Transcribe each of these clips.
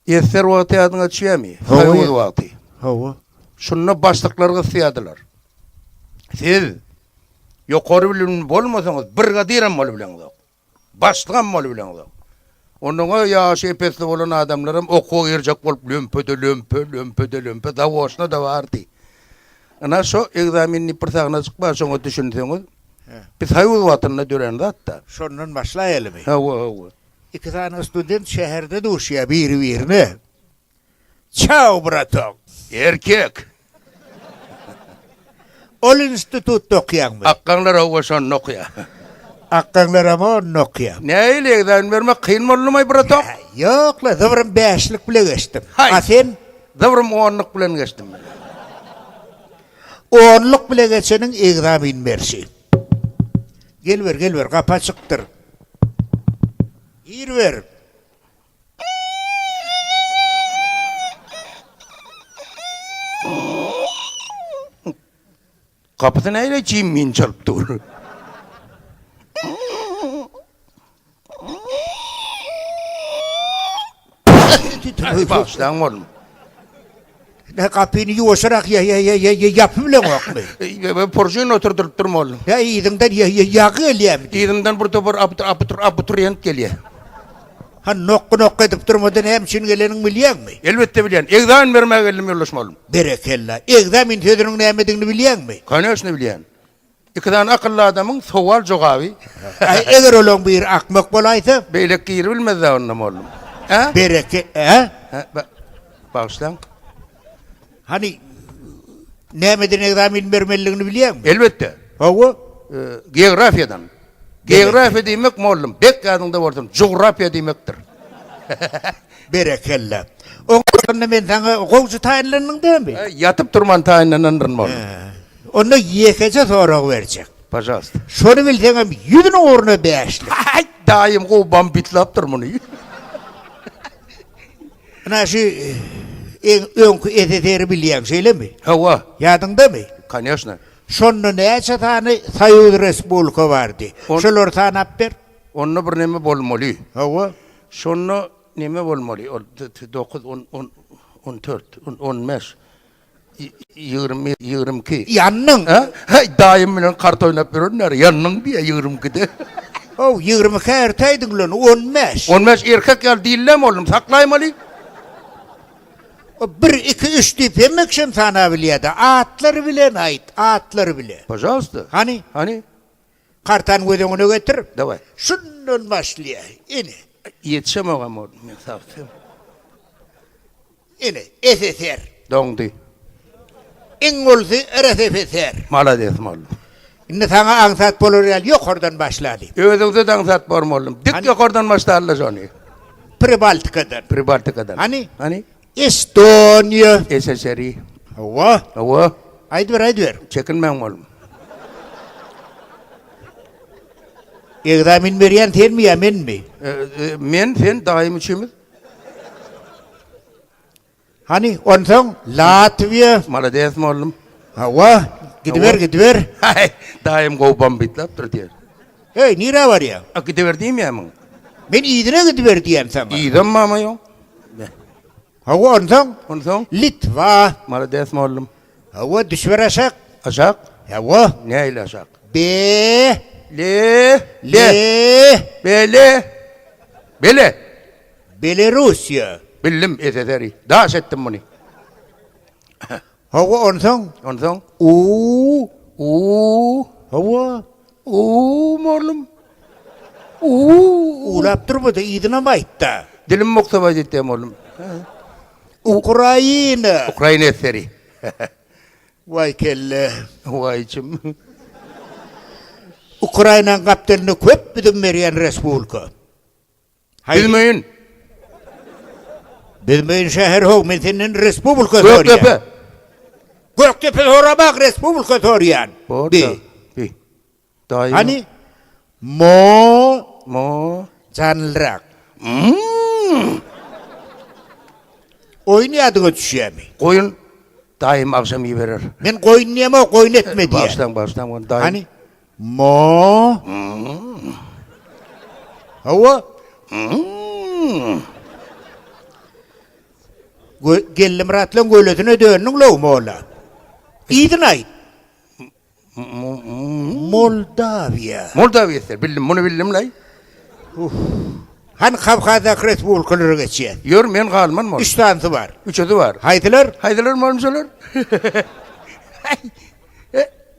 Ester wagty ýadyňa düşýärmi? Soýuz wagty. Hawa. Şunda başlyklar gysýardylar. Siz ýokary bilimli bolmasaňyz, brigadirem bolup bileňizok. Başlygam bolup bileňizok. Onuň ýaşy epesli bolan adamlaram okuwa girjek bolup lömpe-de lömpe, lömpe-de lömpe zawoçna-da bardy. Ynha şo ekzamen diýip bir sahnajyk bar, şoňa düşünseňiz. Biz soýuz wagtynda dörän zat-da. Şondan başlaýalymy? Hawa, hawa. Iki sany student şäherde duşýar biri-birine. Çau, bratok! Erkek! Ol institutda okaýaňmy? Akgaňlar-ow oşonda okaýar. Akgaňlaram onda okaýar. Nähili, ekzamen bermek kyn boldumy, bratok? Ýok-la, zybrym bäşlik bile geçdim. Haý! A sen? Zybrym onluk bilen geçdim men. Onluk bile geçeniň ekzamen berşi. Gel ber, gel ber, gapy açykdyr. Ir berip. Gapysy näle çim min çalyp dur. Tütüni bagyşlaň bolun. Ne kapyny ýuwaşyrak ýa ýa ýa ýa ýapy bileňokmy? Eý, Porjyn oturdyryp durma oglum. Ýa yzyňdan ýa ýa ýagy gelýärmi? Yzymdan bir topar abiturient gelýär. Ha nokgy nokgy edip durmada näme üçin gelenini bilýäňmi? Elbetde bilýän. Ekzamen bermä geldim ýoldaşym oglum. Berekella. Ekzamen sözüniň nämedigini bilýäňmi? Koneşne bilýän. Iki sany akylly adamyň sowal jogaby. Aý eger olaň biri akmak bolaýsa? Beýleki giribilmezda onda mollum. Hä? Bereke, hä? Hä, ba, bagyşlaň. Hany nämeden ekzamin bermelidigini bilýäňmi? Elbetde. Hawa. E, geografiýadan. Geografiýa diýmek mollum, bek ýadyňda bolsun, jugrafiýa diýmekdir. Berekella. Oňa onda men saňa gowçy taýynlandyň dämi? Ýatyp turman taýynlanandyr mollum. Onda ýekeje sorag berjek. Pažalsta. Şony bilseňem ýüzüniň ugruna bäşlik. Haý, daýym gowy bambitlapdyr muny. Ynha şu iň öňki SSR-i bilýäň, şeýlemi? Hawa. Ýadyňdamy? Koneşna. Şonda näçe sany soýuz respublika bardy? Şolary sanap ber. Onda bir neme bolmaly. Hawa. Şonda neme bolmaly? Ol dokuz, on, on, on dört, on, on bäş. Ýigrimi, ýigrimi iki. Ýandyň. Hä? Heý, daýym bilen kart oýnap ýörenler, ýandyň diýýär ýigrimi ikide. Haw, ýigrimi ikä ertäýdiň bilen, on bäş. On bäş erkek ýaly dillem boldum, saklaýmaly. Bir, iki, üç diýip hemme kişem sanabilýä-dä. Atlary bilen aýt, atlary bilen. Pažalsta. Hany? Hany? Kartany göz öňüne getir. Daway. Şundan başlaýa. Ine. Ýetişemogam boldum men sagtyň. Ine, SSR. Doňdy. Iň ulusy RSFSR. Malades boldum. Indi saňa aňsat bolar ýaly ýokardan başlaly. Özüňde-de aňsat bor boldum. Dik ýokardan başlala şony. Pribaltikadan. Pribaltikadan. Hany? Hany? Estoniýa. SSRI. Hawa. Hawa. Aýdyber, aýdyber. Çekinmäň oglum. Ekzamen berýän senmi ýa menmi? E, e, men, sen, daýym üçimiz. Hany, onsoň Latwiýa. Malades mollum. Hawa, gidiber, gidiber. Haý, daýym gowy bombit lapdyr diýer. Heý, nirä barýaň? A, gidiber diýmeýärmiň? Men yzyna gidiber diýýän saňa. Yzam mama ýoň. Hawa, onsoň? Onsoň? Litwa. Malades, mollum. Hawa, düşüber aşak. Aşak? Hawa. Nähili aşak? Be. Le. Le. Bele. Bele. Belerussiýa. Bildim, SSR-i. Daş etdim muny. Hawa, onsoň? Onsoň? Uw, uw. Hawa, uw, mollum. Uw, uwlap durma-da, yzynam aýt-da. Dilim mukdabaý ýetýär, mollum. Ukraina. Ukraina eseri. Waý kelle, waý içim. Ukrainanyň gapdalynda köp üzüm berýän respublika. Bilmeýin. Bilmeýin şäher how men senden respublika sorýan. Gökdepe. Gökdepe sorabak respublika sorýan. Bi. Bi. Daýy. Hani? Mo. Mo. Janlyrak. Oýun ýadyňa düşýämi? Goýun. Daýym agşam iberer. Men goýun diýemok, goýun etme diýen. Başdan başdan goýun daýym. Hani? Ma. Hawa. Gö Gellimyratlaň gölesine döndüň lou molla. Yzyny aýt. Moldawiýa. Moldawiýa ser. Bildim, muny bildim lay. Hany Kawkazdaky respublikalara geçýäs. Ýör, men galman mol. Üç sanysy bar. Üçüsi bar. Haýsylar? Haýsylar molmuşalar? Aý.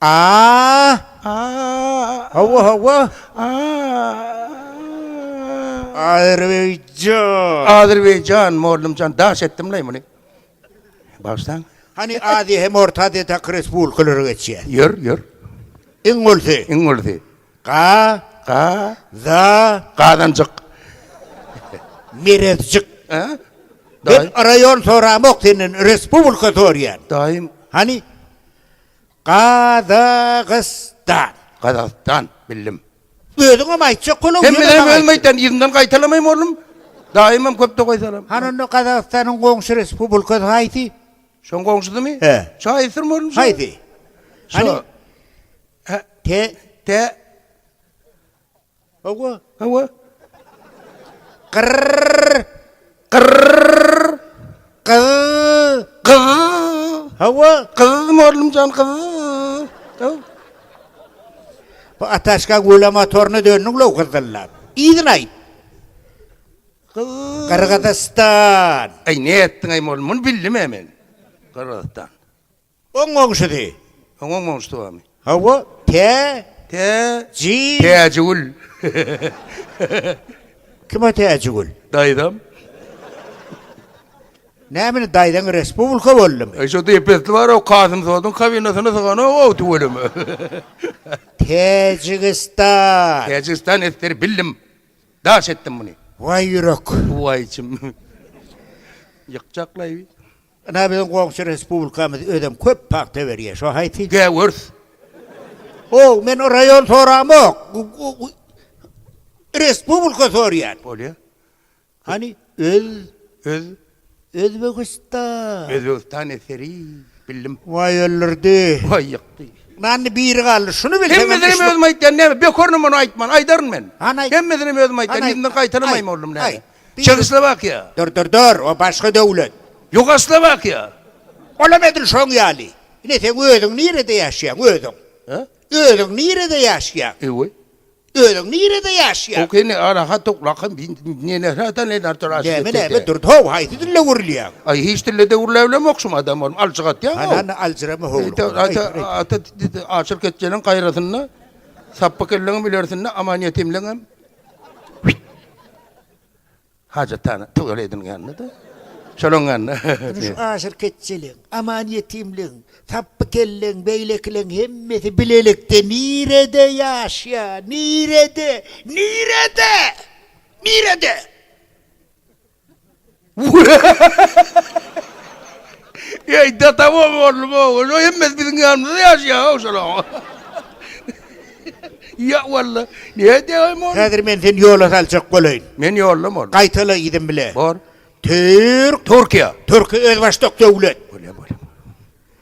Aaa! Hawa, hawa! Azerbaýjan! Azerbaýjan, mollumjan, daş etdimlaý muny. Bagyşlaň. Hany Aziýa hem Orta Aziýa taky respublikalara geçýä. Ýör, ýör. Iň ulsy. Iň ulsy. Ga. Ga. Za. Gazanjyk. Merezjik. Hä? Men raýon soramok senden, respublika sorýan. Daýym. Hany? Gazagystan. Gazagystan, bildim. Özüňem aýtjak boluň, ýöne maňa aýt. Sen bilenem özüm aýtýan, yzyndan gaýtalamaým oglum. Daýymam köp tokaý salam. Hany onda Gazagystanyň goňşy respublikasy haýsy? Şoň goňşusymy? Hä. Şo aýtsyrmy oglum? Haýsy? Şo. Hany? Te. Te. Hawa. Hawa. Gyrr. Gyrr. Gyz. Gyz. Hawa. Gyz morlumjan gyz. Hawa. Bu ataşka gula motoruna döndüň lo gyzdyllap. Iýdin aýt. Gyrgyzystan. Aý ne etdiň aý mol, muny bildim aý men. Gyrgyzystan. Oň goňşusy. Oň oň goňşusy barmy? Hawa, tä, Tä, ji. Täjigül. Kim o Täjigül? Daýzam. Näme indi daýzaň respublika boldumy? E, şo depesli bar-ow, Kasym Soduň kabinasyna syganok-ow tüweleme. Täjigistan. Täjigistan eseri bildim. Daş etdim muny. Waý ýürek. Waý içim. Ýykjaklaýby. Ynha biziň goňşy respublikamyz özem köp pagta berýär. Şo haýsy? Gäwürs. Ow, men raýon soramok. Respublika sorýan. Bolýa. Hany öz öz Özbegistan. Özbegistan eseri bildim. Waý öldürdi. Waý ýykdy. Nanny biri galdy. Şuny bilseň. Hemmesini hem özüm aýtýan näme? Bekorny muny aýtman. Aýdaryn men. Hany aýt. Hemmesini hem özüm aýtýan. Ýerinden gaýtalamaým oldum näme? Çehoslowakiýa. Dur, dur, dur, o başga döwlet. Ýugoslowakiýa. Olam edil şoň ýaly. Ine, seň özüň nirede ýaşaýaň, özüň? Hä? Özüň nirede ýaşaýaň? Eý-we. Özüň nirede ýaşaýaň? Oke, ine, araha toklakam bi nenehrä da nener tor aşyp etdi. Näme, näme, dur, how, haýsy dilde gürleýäň? Aý, hiç dilde de gürläbilemok şum adam bolup, aljyk atýaň, how. Hany, aljyrama, how. Ýa, ata, ata, aşyk etjeniň gaýrasynda, sapbykyllygyň bilersinde, amanýetimligiňem. Hajatana tüwel edilgende-de. Şonuň ýanyna. Durmuş aşyrkeçjiligiň, aman-ýetimligiň, sapbykelliligiň, beýlekileriň hemmesi bilelikde nirede ýaşaýar? Nirede? Nirede? Nirede? Eý, dataw oglum-ow, ol hemmesi biziň ýanymyzda ýaşaýar-ow şolaryň. Ýa, walla, näme diýäýem ony? Häzir men seni ýola saljak bolaýyn. Men ýoldam ol. Gaýtala yzym bile. Bor. Türk. Türkiýe. Türki özbaşdak döwlet. Bolýar, bolýar.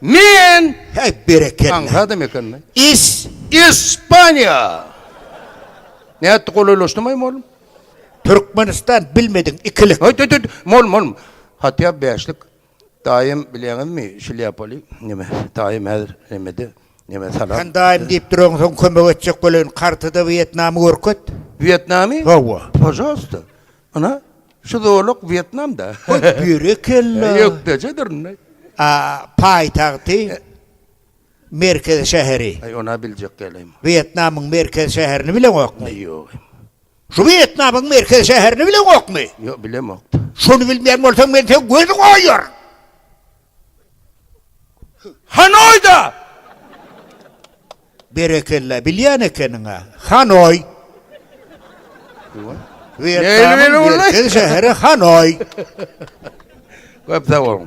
Men Heý berekella. Aňry adam ekeni. Is. Ispaniýa. Nätdi golaýlaşdymaýmy oglum? Türkmenistan bilmediň ikilik. Haý tüt tüt. Molum molum. Hatýa bäşlik. Daýym bilýäňizmi şlýapaly neme. Daýym häzir nemede. Neme salam. Sen daýym diýip duraň soň kömek etjek bolaýyn kartada Wýetnamy görket. Wýetnamy? Hawa. Pažalsta. Ana, şu zolak Wýetnamda. Goý, berekella. Ýökdejedir indi. A, paýtagty, merkez şäheri. Aý, ony-a biljek dälem. Wýetnamyň merkez şäherini bileňokmy? Aý, ýoga. Şu Wýetnamyň merkez şäherini bileňokmy? Ýok, bilemok-da. Şony bilmeýän bolsaň, men seň gözüňi oýaryn! Hanoýda! Berekella, bilýän ekeniň-ä. Hanoý! Wýetnamyň merkez şäheri Hanoý. Köp sag boluň.